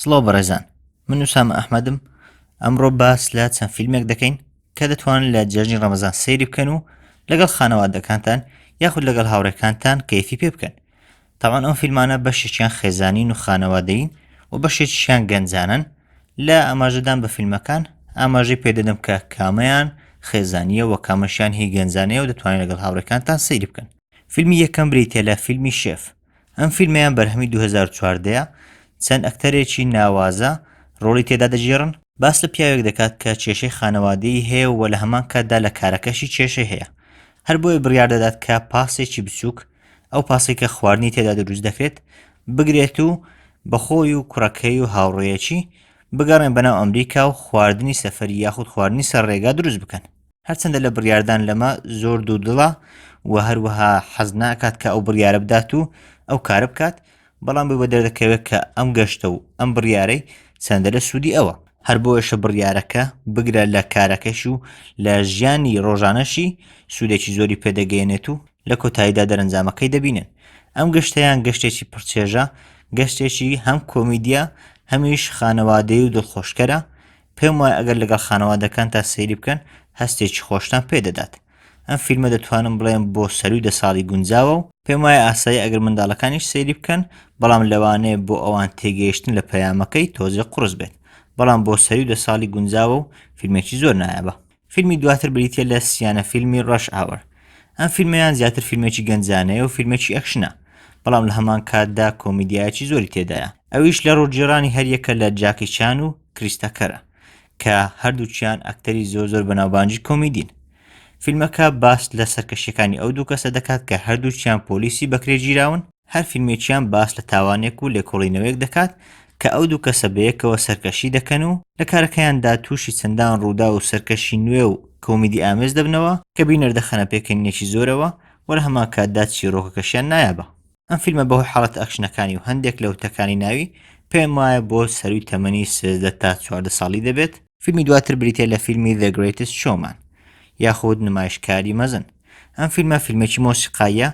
سڵاو بەڕێزان من وسام ئەحمەدم ئەمڕۆ باس لە چەند فیلمێک دەکەین کە دەتوان لە جێژنی ڕەمەزان سەیری بکەن و لەگەڵ خانەوادەکانتان یاخود لەگەڵ هاوڕێکانتان کەیفی پێ بکەن تاوان ئەو فیلمانە بەشێکیان خێزانین و خانەوادەین و بەشێکیان گەنجانن لە ئاماژەدان بە فیلمەکان ئاماژەی پێدەدەم کە کامەیان خێزانیە وە کامەشیان هی گەنجانەیە و دەتوانین لەگەڵ هاوڕێکانتان سەیری بکەن فیلمی یەکەم بریتە لە فیلمی شێف ئەم فیلمەیان بەرهەمی دوو هەزار و چواردە یە، چەند ئەکتەرێکی ناوازە ڕۆڵی تێدا دەگێڕن، باس لە پیاوێک دەکات کە کێشەی خانەوادەیی هەیە و لە هەمان کاتدا لە کارەکەشی کێشەی هەیە، هەر بۆیە بڕیار دەدات کە پاسێکی بچووک، ئەو پاسەی کە خواردنی تێدا دروست دەکرێت، بگرێت و بە خۆی و کوڕەکەی و هاوڕێیەکی بگەڕێن بەناو ئەمریکا و خواردنی سەفەری یاخود خواردنی سەر ڕێگا دروست بکەن. هەرچەندە لە بڕیاردان لەمە زۆر دوور دڵە و هەروەها حەز ناکات کە ئەو بڕیارە بدات و ئەو کارە بکات بەڵام بۆی بە دەردەکەوێت کە ئەم گەشتە و ئەم بڕیارەی چەندە لە سوودی ئەوە هەر بۆیشە بڕیارەکە بگرە لە کارەکەش و لە ژیانی ڕۆژانەشی سوودێکی زۆری پێدەگەێنێت و لە کۆتاییدا دەرەنجامەکەی دەبینن ئەم گەشتیان گەشتێکی پڕچێژە گەشتێکی هەم کۆمیدیا هەمیش خانەوادەی و دڵخۆشکەرە پێم وایە ئەگەر لەگەڵ خانەوادەکان تا سەیری بکەن هەستێکی خۆشتان پێدەدات ئەم فیلمە دەتوانم بڵێم بۆ سەروی دە ساڵی گونجاوە و پێم وایە ئاسایی ئەگەر منداڵەکانیش سەیری بکەن بەڵام لەوانەیە بۆ ئەوان تێگەیشتن لە پەیامەکەی تۆزێ قڕس بێت بەڵام بۆ سەری دە ساڵی گونجاوە و فیلمێکی زۆر نایابە فیلمی دواتر بریتیە لە سیانە فیلمی ڕەش ئاوەر ئەم فیلمیان زیاتر فیلمێکی گەنجانەیە و فیلمێکی ئەکشنە بەڵام لە هەمان کاتدا کۆمیدیایکی زۆری تێدایە ئەویش لە ڕۆژگیرانی هەریەکە لە جاکی چان و کریستەکەرە کە هەردووچیان ئەکتەری زۆر زۆر بەناوبانجی کۆمیدین فیلمەکە باس لە سەرکەشیەکانی ئەو دوو کەسە دەکات کە هەردووچیان پۆلیسی بەکرێگیراون هەر فیلمێکیان باس لە تاوانێک و لێکۆڵینەوەیەک دەکات کە ئەو دوو کەسە بەیەکەوە سەرکەشی دەکەن و لە کارەکەیاندا تووشی چەندان ڕووداو و سەرکەشی نوێ و کۆمیدی ئامێز دەبنەوە کە بینەر دەخەنە پێکەنینێکی زۆرەوە و لە هەمان کاتدا چیڕۆکەکەشیان نایابە. ئەم فیلمە بەهۆی حاڵەتە ئەکشنەکانی و هەندێک لە وتەکانی ناوی پێم وایە بۆ سەرووی تەمەنی سێزدە تا چواردە ساڵی دەبێت، فیلمی دواتر بریتییە لە فیلمی The Greatest Showman یاخود نمایشکاری مەزن، ئەم فیلمە فیلمێکی مۆسیقاییە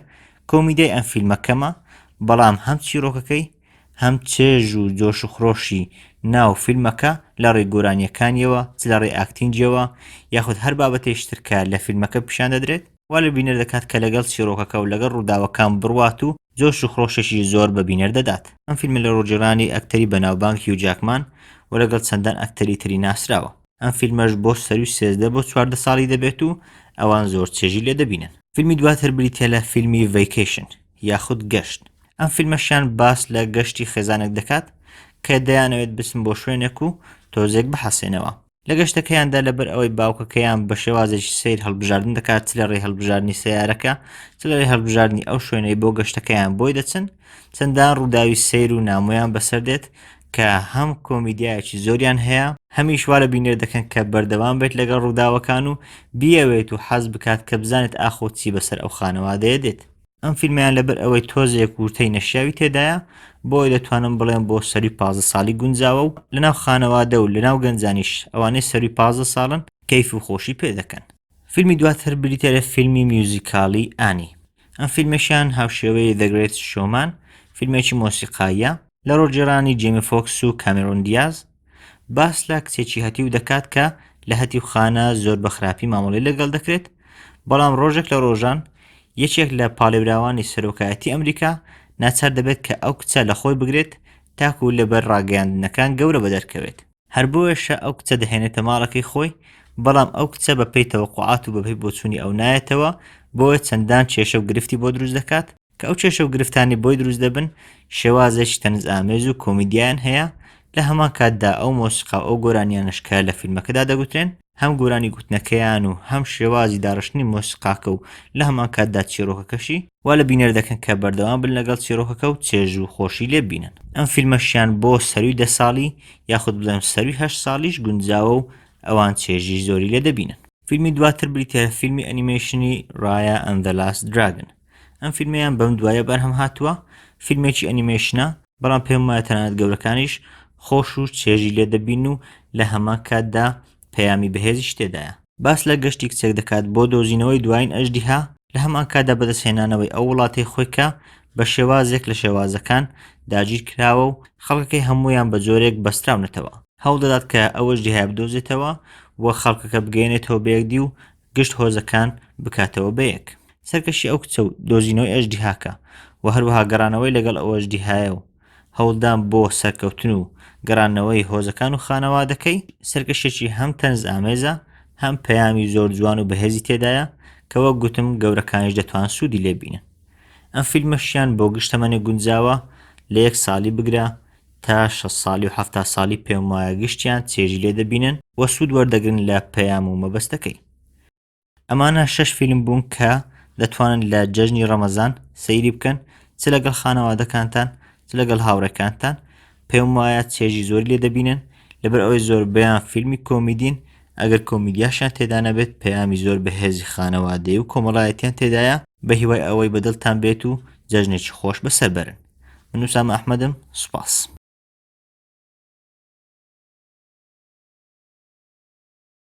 کۆمیدیای ئەم فیلمە کەمە بەڵام هەم چیڕۆکەکەی هەم چێژ و جۆش و خرۆشی ناو فیلمەکە لە ڕێ گۆرانیەکانیەوە چ لە ڕێ ئاکتینجیەوە یاخود هەر بابەتێشترکە لە فیلمەکە پیشان دەدرێت وا لە بینەر دەکات کە لەگەڵ چیڕۆکەکە و لەگەڵ ڕووداوەکان بڕوات و جۆش و خرۆشێکی زۆر بە بینەر دەدات ئەم فیلمە لە ڕۆژگێڕانی ئەکتەری بەناوبانگ هیو جاکمان و لەگەڵ چەندان ئەکتەری تری ناسراوە. ئەم فیلمەش بۆ سەروی سێزدە بۆ چواردە ساڵی دەبێت و ئەوان زۆر چێژی لێ دەبینن فیلمی دواتر بریتە لە فیلمی ڤیکیشن یاخود گەشت ئەم فیلمەشیان باس لە گەشتی خێزانێک دەکات کە دەیانەوێت بچن بۆ شوێنێک و تۆزێک بحەسێنەوە لە گەشتەکەیاندا لەبەر ئەوەی باوکەکەیان بە شێوازێکی سیر هەڵبژاردن دەکات چ لە ڕێ هەڵبژاردننی سیارەکە چ لە ڕێ هەڵبژاردننی ئەو شوێنەی بۆ گەشتەکەیان بۆی دەچن چەندان ڕووداوی سیر و نامۆیان بەسەر دێت کە هەم کۆمیدیایەکی زۆریان هەیە هەمیش وا لە بینەر دەکەن کە بەردەوام بێت لەگەڵ ڕووداوەکان و بیەوێت و حەز بکات کە بزانێت ئاخۆ چی بەسەر ئەو خانەوادەیە دێت ئەم فیلمیان لەبەر ئەوەی تۆزێک وورتەی نەشیاوی تێدایە بۆی دەتوانم بڵێم بۆ سەری پازە ساڵی گونجاوە و لەناو خانەوادە و لەناو گەنجانیش ئەوانەی سەری پازە ساڵن کەیف و خۆشی پێ دەکەن فیلمی دواتر بریتە لە فیلمی میوزیکالی ئانی ئەم فیلمەشیان هاوشێوەی دەگرێت شۆمان فیلمێکی مۆسیقاییە لە ڕۆڵگێڕانی جێمی فۆکس و کامێرۆن دیاز، باس لە کچێکی هەتیو دەکات کە لە هەتیوخانە زۆر بە خراپی مامەڵەی لەگەڵ دەکرێت، بەڵام ڕۆژێک لە ڕۆژان یەکێک لە پاڵێوراوانی سەرۆکایەتی ئەمریکا ناچار دەبێت کە ئەو کچە لە خۆی بگرێت تاکو لەبەر ڕاگەیاندنەکان گەورە بەدەرکەوێت. هەر بۆیەشە ئەو کچە دەهێنێتە ماڵەکەی خۆی، بەڵام ئەو کچە بەپێی تەوەقوعات و بەپێی بۆچوونی ئەو نایەتەوە، بۆیە چەندان کێشە و گرفتی بۆ دروست دەکات، کە ئەو کێشە و گرفتانەی بۆی دروست دەبن شێوازێکی تەنزئامێز و کۆمیدیان هەیە لە هەمان کاتدا ئەو مۆسیقا و ئەو گۆرانیانەش کە لە فیلمەکەدا دەگوترێن هەم گۆرانی گوتنەکەیان و هەم شێوازی داڕشتنی مۆسیقاکە و لە هەمان کاتدا چیرۆکەکەشی وا لە بینەر دەکەن کە بەردەوام بن لەگەڵ چیرۆکەکە و چێژ و خۆشی لێ بینن ئەم فیلمەشیان بۆ سەروی دە ساڵی یاخود بڵێم سەروی هەشت ساڵیش گونجاوە و ئەوان چێژی زۆری لێ دەبینن فیلمی دواتر بریتە فیلمی ئەنیمەیشنی ڕایە ئەندەلاس دراگن ئەم فیلمیان بەم دوایە بەرهەم هاتووە فیلمێکی ئەنیمێشنە بەڵام پێم وایە تەنانەت گەورەکانیش خۆش و چێژی لێ دەبین و لە هەمان کاتدا پەیامی بەهێزیش تێدایە باس لە گەشتی کچێک دەکات بۆ دۆزینەوەی دوایین ئەژدیها لە هەمان کاتدا بەدەستهێنانەوەی ئەو وڵاتەی خۆی کە بە شێوازێک لە شێوازەکان داگیر کراوە و خەڵکەکەی هەمویان بە جۆرێک بەستراونەتەوە هەوڵدەدات کە ئەوەش دیهای بدۆزێتەوە و خەڵکەکە بگەێنێتەوە بەیەکدی و گشت هۆزەکان بکاتەوە بەیەک سەرکەشی ئەو کچە و دۆزینەوەی ئەژدیهاکە و هەروەها گەڕانەوەی لەگەڵ ئەوەژدیهایە و هەوڵدان بۆ سەرکەوتن و گەڕانەوەی هۆزەکان و خانەوادەکەی سەرکەشێکی هەم تەنز ئامێزە هەم پەیامی زۆر جوان و بەهێزی تێدایە کە وەک گوتم گەورەکانیش دەتوان سوودی لێبینن ئەم فیلمەشیان بۆ گشتەمەنێ گونجاوە لە یەک ساڵی بگرە تا شەست ساڵی و حەفتا ساڵی پێم وایە گشتیان چێژی لێ دەبینن و سوود وەردەگرن لە پەیام و مەبەستەکەی ئەمانە شەش فیلم بوون کە دەتوانن لە جەژنی ڕەمەزان سەیری بکەن چ لەگەڵ خانەوادەکانتان چ لەگەڵ هاوڕێکانتان پێم وایە چێژی زۆر لێ دەبینن لەبەر ئەوەی زۆر بەیان فیلمی کۆمیدین ئەگەر کۆمیدیاشیان تێدا نەبێت پەیامی زۆر بەهێزی خانەوادەی و کۆمەڵایەتیان تێدایە بە هیوای ئەوەی بەدڵتان بێت و جەژنێکی خۆش بەسەر بەرن من ئوسامە ئەحمەدم سوپاس.